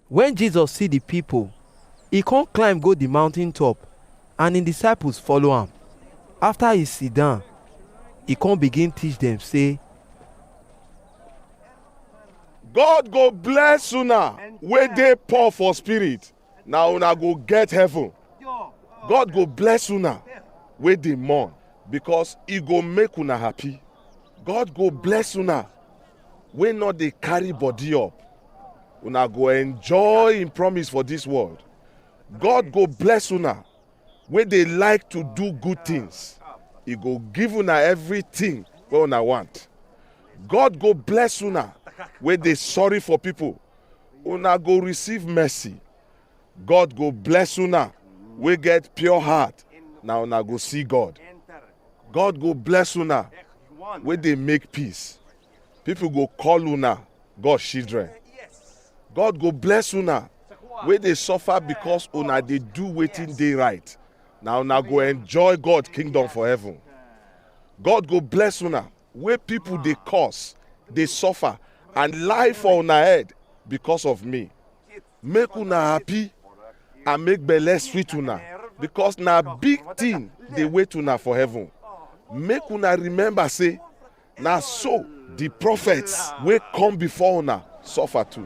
When Jesus see the people, he come climb go the mountain top, and him disciples follow am. After he sit down, he come begin teach them say, God go bless una wey dey poor for spirit. na una go get heaven god go bless una wey dey mourn because e go make una happy god go bless una wey no dey carry body up una go enjoy im promise for dis world god go bless una wey dey like to do good tins, e go give una evritin wey una want. God go bless una wey dey sorry for pipo, una go receive mercy. God go bless una wey get pure heart, na una go see God. God go bless una wey dey make peace. People go call una God children. God go bless una wey dey suffer because una dey do wetin dey right. Na una go enjoy God kingdom for heaven. God go bless una wey people dey curse, dey suffer and lie for una head because of me. Make una happy and make belle sweet una because na big thing dey wait una for heaven. Make una remember say Na so di prophets wey come before una suffer too.